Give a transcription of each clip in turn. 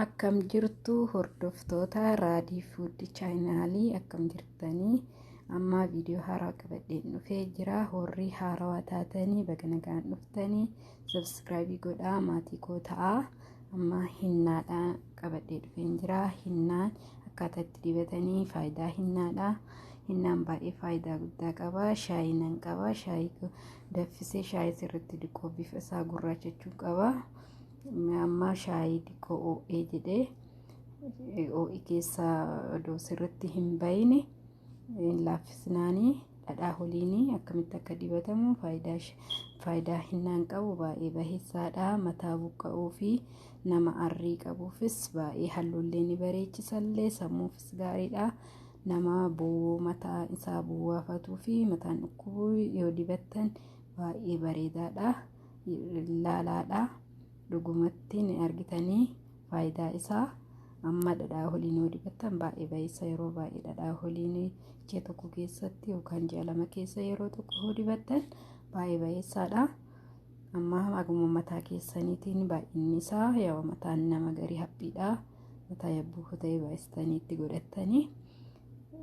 akkam jirtu hordoftoota raadii fuuddi chaayinaalii akkam jirtanii ammaa viidiyoo haaraa qabadheen dhufee jira horrii haarawaa taatanii baga nagaan dhuftanii sabskraayibii godhaa maatii koo ta'aa ammaa hinnaadha qabadhee dhufeen jira hinnaan akkaataa itti dibatanii faayidaa hinnaadha Hinnaan baay'ee faayidaa guddaa qaba. Shaayii nan qaba. Shaayii daffisee shaayii sirriitti diqoo bifa isaa gurraachachuu qaba. Amma shaayii diqoo oo'ee jedhee oo'i keessaa odoo sirriitti hin bayine hin laaffisnaanii dhadhaa holiinii akkamitti akka dibatamu faayidaa faayidaa hinnaan qabu baay'ee baheessaadha. Mataa buqqa'uu fi nama arrii qabuufis baay'ee halluullee ni bareechisallee sammuufis gaariidha. nama bu'uu mataa isaa bu'aafatuu fi mataan dhukkubuu yoo dibattan baay'ee bareedaadha laalaadha dhugumatti ni argitanii faayidaa isaa amma dhadhaa holiin yoo dibattan baay'ee baay'isa yeroo baay'ee dhadhaa holiin ji'a tokko keessatti yookaan ji'a lama keessa yeroo tokko yoo dibattan baay'ee baay'isaadha amma haguma mataa keessaniitiin baay'inni isaa yoo mataan nama garii haphiidha. mataa yabbuu kutee baay'istanii itti godhattanii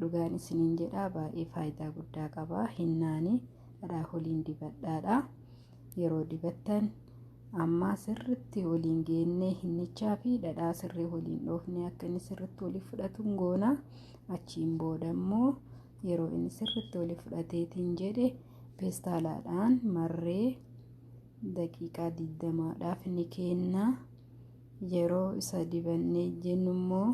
dhugaan isiniin jedhaa baay'ee faayidaa guddaa qaba hinnaani dhadhaa holiin dibadhaadha yeroo dibattan ammaa sirritti waliin geennee hinnichaa fi dhadhaa sirrii waliin dhoofnee akka inni sirritti waliif fudhatuun goona achiin booda immoo yeroo inni sirritti waliif fudhateetiin jedhe peestaalaadhaan marree daqiiqaa digdamaadhaaf ni keenna. Yeroo isa dibannee jennu immoo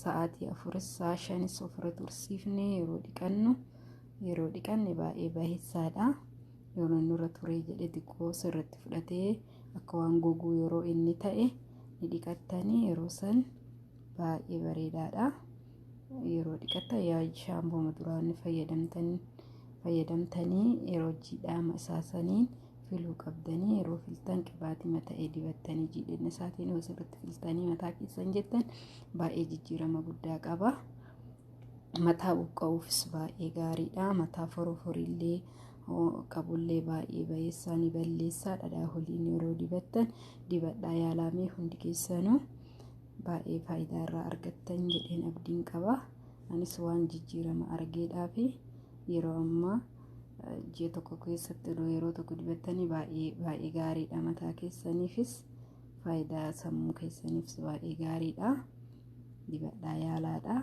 sa'aatii afuris sa'a shanis ofirra tursiifne yeroo dhiqannu yeroo dhiqanne baay'ee baay'isaadha. Yeroo inni irra turee jedhe xiqqoo sirratti fudhatee akka waan goguu yeroo inni ta'e ni dhiqattanii yeroo san baay'ee bareedaadha. Yeroo dhiqatan yaa shaampooma duraan fayyadamtanii yeroo jiidhaama isaa saniin filuu qabdanii yeroo filtan qibaatii mata'ee dibattanii jiidhinna isaatiin yoo sirriitti filtanii mataa keessan jettan baay'ee jijjiirama guddaa qaba. Mataa buqqa'uufis baay'ee gaariidha. Mataa foroforiillee qabullee baay'ee bayeessaa ni balleessaa dhadhaa holiin yeroo dibattan dibadhaa yaalamee hundi keessanuu baay'ee faayidaa irraa argattan jedheen abdiin qaba. Anis waan jijjiirama argeedhaa fi yeroo ammaa ji'a tokko keessatti odoo yeroo tokko dibattanii baay'ee baay'ee gaariidha mataa keessaniifis faayidaa sammuu keessaniifis baay'ee gaariidha dibadhaa yaalaadha.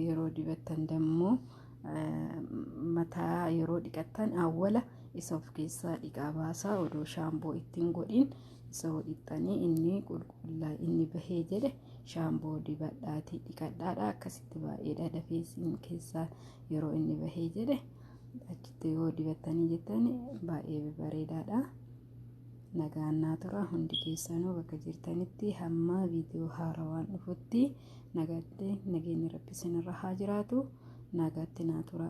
yeroo dibattan dammoo mataa yeroo dhiqattan awwala isa of keessaa dhiqaa baasaa odoo shaamboo ittiin godhin isa hodhixxanii inni qulqullaa inni bahee jedhe shaamboo dibadhaatii dhiqadhaadha akkasitti baay'eedha dafee isin keessaa yeroo inni bahee jedhe achitti yoo dibattanii jettan baay'ee bareedaadha. nagaan naa tura hundi keessanuu bakka jirtanitti hamma viidiyoo haarawaan dhufutti nagaatti nageenyi rabbi isinirra haa jiraatu nagaatti naa tura.